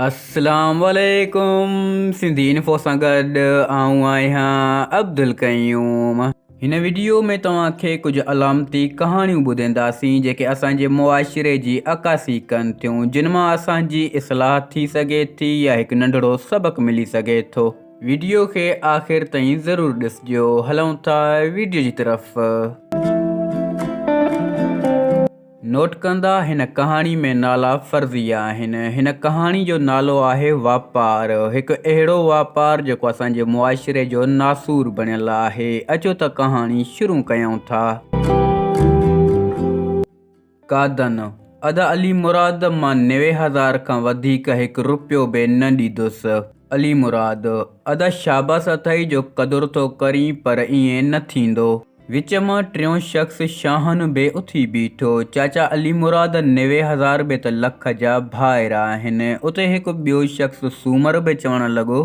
اسلام عليڪم سنڌي انفو سان گڏ آئون آهيان عبدالقيوم هن ويڊيو ۾ توهان کي ڪجهه علامتي ڪهاڻيون ٻڌينداسين جيڪي اسان جي معاشري جي عڪاسي ڪن ٿيون جن مان اسان جي اصلاح ٿي سگهي ٿي يا هڪ ننڍڙو سبق ملي سگهي ٿو ويڊيو کي آخر تائين ضرور ڏسجو هلون ٿا ويڊيو جي طرف. نوٽ ڪندا، هن ڪهاڻي ۾ نالا فرضيه آهن. هن ڪهاڻي جو نالو آهي واپار. هڪ اهڙو واپار جيڪو اسان جي معاشري جو ناسور بڻيل آهي. اچو ته ڪهاڻي شروع ڪيون ٿا. قادن، ادا علي مراد، مان نوي هزار کان وڌيڪ هڪ رپيو به نه ڏيندس. علي مراد، ادا شاباس اٿئي جو قدر ٿو ڪرين پر ائين نه ٿيندو. وچ مان ٽيون شخص شاهن به اٿي بيٺو، چاچا علي مراد، نوي هزار به ته لک جا ڀائر آهن. اتي هڪ ٻيو شخص سومر به چوڻ لڳو.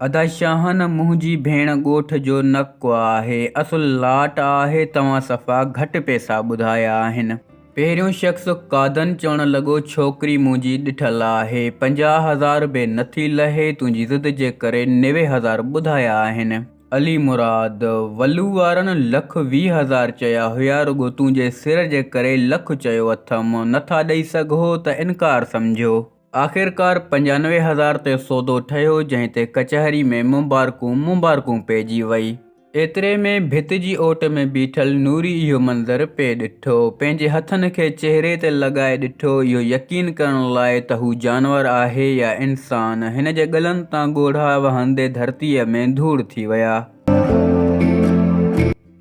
ادا شاهن، منهنجي ڀيڻ ڳوٺ جو نڪ آهي، اصل لاٽ آهي، توهان صفا گهٽ پئسا ٻڌايا آهن. پهريون شخص قادن چوڻ لڳو، ڇوڪري منهنجي ڏٺل آهي، پنجاهه هزار به نٿي لهي، تنهنجي ضد جي ڪري نوي هزار ٻڌايا آهن. علي مراد، ولو وارن لک ويهه هزار چيا هيا رڳو تنهنجي سر جي ڪري لک چيو اٿم، نه ٿا ڏئي سگهو ته انڪار سمجهو. آخرڪار پنجانوي هزار تي سودو ٺهيو جنهن تي ڪچهري ۾ مبارڪون مبارڪون پئجي وئي. ايتري ۾ ڀت جي اوٽ ۾ بيٺل نوري اهو منظر پئي ڏٺو. ڏٺو، پنهنجي هٿن کي چهري تي لڳائي ڏٺو، اهو يقين ڪرڻ لاء ته هو جانور آهي يا انسان. هن جي ڳلن تان ڳوڙها وهندي ڌرتيء ۾ ڌوڙ ٿي ويا.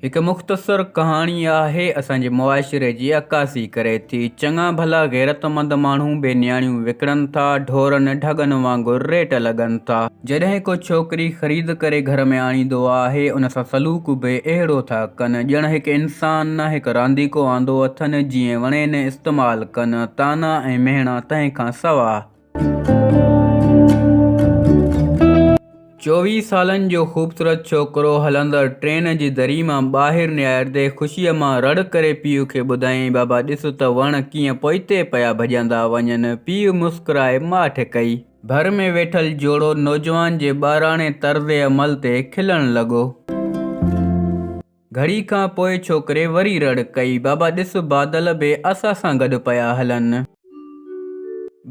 هڪ مختصر ڪهاڻي آهي، اسان جي معاشري جي عڪاسي ڪري ٿي. چڱا ڀلا غيرتمند ماڻهو بي نياڻيون وڪڻن ٿا، ڍورن ڍڳن وانگر ريٽ لڳن ٿا. جڏهن ڪو ڇوڪري خريد ڪري گهر ۾ آڻيندو آهي ان سان سلوڪ به اهڙو ٿا ڪن ڄڻ هڪ انسان نه هڪ رانديڪو آندو اٿن جيئن وڻين استعمال ڪن طعنا ۽ مهڻا تنهن کان سواء. چوويهه سالن جو خوبصورت ڇوڪرو هلندڙ ٽرين جي دري مان ٻاهر نهاريندي خوشيء مان رڙ ڪري پيء کي ٻڌايائين بابا ڏس ته وڻ ڪيئن پوئتي پيا ڀڄندا وڃن پيء مسڪرائي ماٺ ڪئي. ڀر ۾ ويٺل جوڙو نوجوان جي ٻاراڻي طرز عمل تي کلڻ لڳو. گهڙي کان پوء ڇوڪري وري رڙ ڪئي، بابا ڏس بادل به اسان سان گڏ پيا هلن.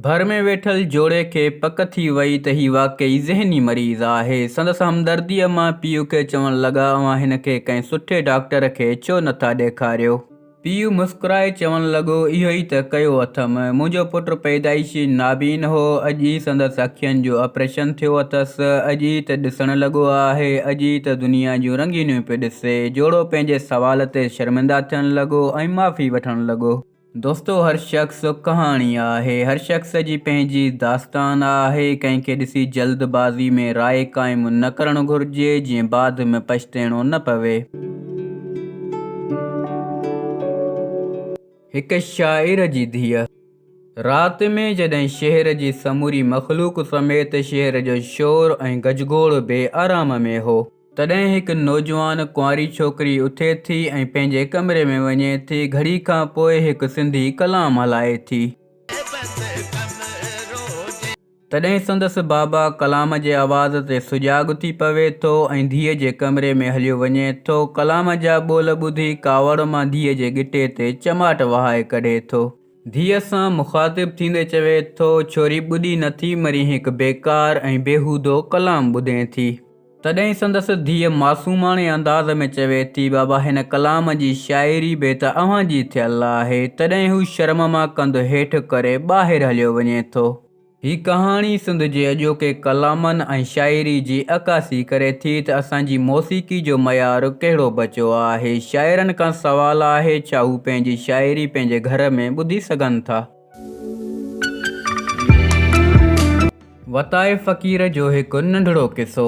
ڀر ۾ ويٺل جوڙي کي پڪ ٿي وئي ته هي واقعي ذهني مريض آهي. سندس همدرديء مان پيء کي چوڻ لڳا، اوهان هن کي ڪنهن سٺي ڊاڪٽر کي ڇو نٿا ڏيکاريو؟ پيء مسڪرائي چوڻ لڳو، اهو ئي ته ڪيو اٿم. منهنجو پٽ پيدائشي نابين هو. اڄ ئي سندس اکين جو آپريشن ٿيو اٿس. اڄ ئي ته ڏسڻ لڳو آهي. اڄ ئي ته دنيا جون رنگينيون پيو ڏسي. جوڙو پنهنجي سوال تي شرمنده ٿيڻ لڳو ۽ معافي وٺڻ لڳو. دوستو هر شخص ڪهاڻي آهي. هر شخص جي پنهنجي داستان آهي. ڪنهن کي ڏسي جلد بازي ۾ راء قائم نه ڪرڻ گهرجي، جيئن بعد ۾ پڇتيڻو نه پوي. هڪ شاعر جي ڌيء رات ۾ جڏهن شهر جي سموري مخلوق سميت شهر جو شور ۽ گجگوڙ بي آرام ۾ هو، تڏهن هڪ نوجوان ڪنواري ڇوڪري اٿي ٿي ۽ پنهنجي ڪمري ۾ وڃي ٿي گهڙي کان پوء هڪ سنڌي ڪلام هلائي ٿي. تڏهن سندس بابا ڪلام جي آواز تي سجاڳ ٿي پوي ٿو ۽ ڌيء جي ڪمري ۾ هليو وڃي ٿو. ڪلام جا ٻول ٻڌي ڪاوڙ مان ڌيء جي ڳٽي تي چماٽ وهائي ڪڍي ٿو. ڌيء سان مخاطب ٿيندي چوي ٿو، ڇوري ٻڏي نٿي مرين هڪ بيڪار ۽ بيهودو ڪلام ٻڌين ٿي. تڏهن سندس ڌيء معصوماڻي انداز ۾ چوي ٿي، بابا هن ڪلام جي شاعري به ته اوهان جي ٿيل آهي. تڏهن هو شرم مان ڪنڌ هيٺ ڪري ٻاهر هليو وڃي ٿو. هي ڪهاڻي سنڌ جي اڄوڪي ڪلامن ۽ شاعري جي عڪاسي ڪري ٿي ته اسان جي موسيقي جو معيار ڪهڙو بچو آهي. شاعرن کان سوال آهي ڇا هو پنهنجي شاعري پنهنجي گهر ۾ ٻڌي سگهن ٿا؟ وتايي فقير جو هڪ ننڍڙو قصو.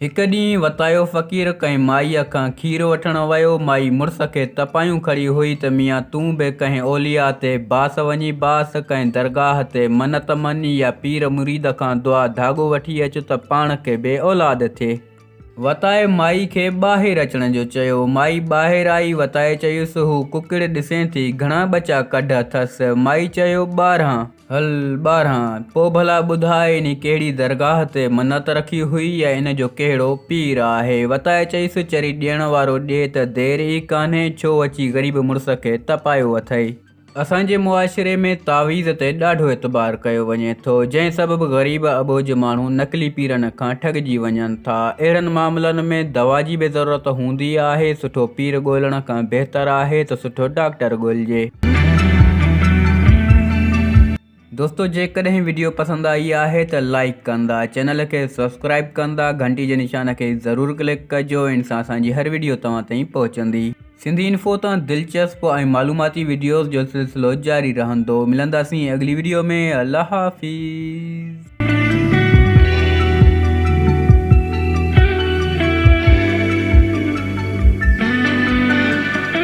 هڪ ڏينهن وتايو فقير ڪنهن مائيء کان کير وٺڻ ويو. مائي مڙس کي تپايون کڙي هئي ته ميان تون به ڪنهن اولياء تي باس وڃي باس، ڪنهن درگاهه تي منت مڃ يا پير مريد کان دعا ڌاڳو وٺي اچ ته پاڻ کي بي اولاد ٿئي. وتائي مائي کي ٻاهر اچڻ جو چيو. مائي ٻاهر آئي، وتائي چيس، هو ڪڪڙ ڏسين ٿي، گهڻا ٻچا ڪڍ اٿس؟ مائي چيو، ٻارهن. هل، ٻارهن. پوء ڀلا ٻڌاء انهي ڪهڙي درگاهه تي منت رکي هئي يا ان جو ڪهڙو پير آهي؟ وتائي چيس، چري ڏيڻ وارو ڏي ته دير ئي ڪانهي، ڇو اچي غريب مڙس کي تپايو اٿئي؟ اسان جي معاشري ۾ تعويذ تي ڏاڍو اعتبار ڪيو وڃي ٿو، جنهن سبب غريب اٻوجهه ماڻهو نقلي پيرن کان ٺڳجي وڃن ٿا. اهڙن معاملن ۾ دوا جي به ضرورت هوندي آهي، سٺو پير ڳولڻ کان بهتر آهي ته سٺو ڊاڪٽر ڳولجي. دوستو جيڪڏهن وڊيو پسند آئي آهي ته لائيڪ ڪندا چينل کي سبسڪرائيب ڪندا گهنٽي جي نشان کي ضرور ڪلڪ ڪجو ان سان اسان جي هر وڊيو توهان تائين پهچندي سنڌي انفو تان دلچسپ ۽ معلوماتي وڊيوز جو سلسلو جاري رهندو ملنداسين اڳلي وڊيو ۾ الله حافظ.